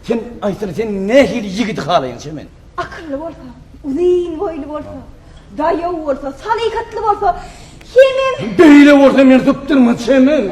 Sen aýtsana, sen nähili ýigidi halaýaň Çemen? Akylly bolsa, uzyn boýly bolsa, daýaw bolsa, salyhatly bolsa, Çemen. Beýle bolsa men tutdurma Çemen.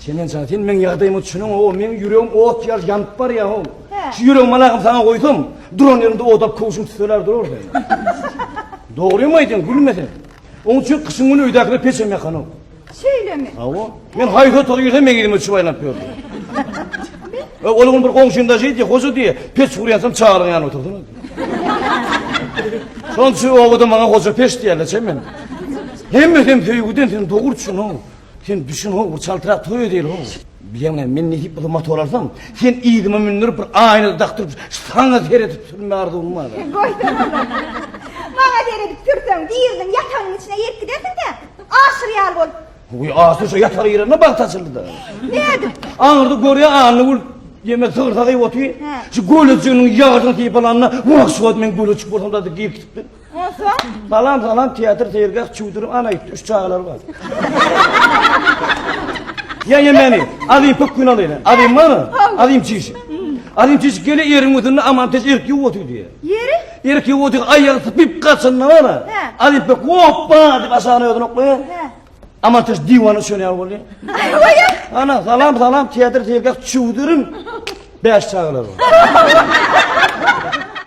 Çemen jan, sen meň ýagdaýymy düşüniň, o meň ýüregim ot ýaly ýanyp barýar, o. Şu ýüregimi malagym saňa goýsam, duran ýerinde odap köwşüm tüteler durar sen. Dogrymy aýdýaň, gülme sen. Oň üçin gyşyň güni öýdäkine peç hem ýakanok. Şeýlemi? Hawa. Men haýsy otaga girsem meň elime düşüp aýlanyp ýördi. E, ol gün bir goňşym daş diýdi, hoja diýe, peç gurýansam çagalyň ýanyna oturdyň. Şonçu obada maňa hoja peç diýerler, çemen. Hemme hem söýgüden sen dogurçyň. Sen düşün ho bir çaltyrak toy edeyli ho. Bileň näme men nesip bolsa motor alsam, sen yzyma mündirip bir aýna dakdyryp saňa seredip sürme arzuwym bar. Goýsana. Maňa seredip sürseň biriniň ýatagynyň içine girip gidersiň-dä. Aşyr ýaly bolup. Goý aşyr şu ýataga girende bagt açyldy-da. Nädip? Aňyrda görýän Annagül ýeme sygyrsa gyp otyr. Şu göleçiginiň ýagajyny sypalanda wah şu wagt men göleçik bolsam-da diýip gitipdir. Onsoň? Salam, salam, teatr, seýilgäh, çüwdüri, ana ýitdi, üç çagalary bar. Ýa-ýa meni, azim pöp gün alyna, azim bar, azim çişi. Azim çişi gele ýeriň üstünde aman teş erik ýuw otyr diýe. Ýeri? Erik ýuw otyr, aýagy sypyp gaçanda bar, azim pöp hoppa diýip aşagyna özüni oklaýa. Aman teş diwana çöne ýaly bolýa. Aýa. Ana, salam, salam, teatr, seýilgäh, çüwdürim, bäş çagalary bar.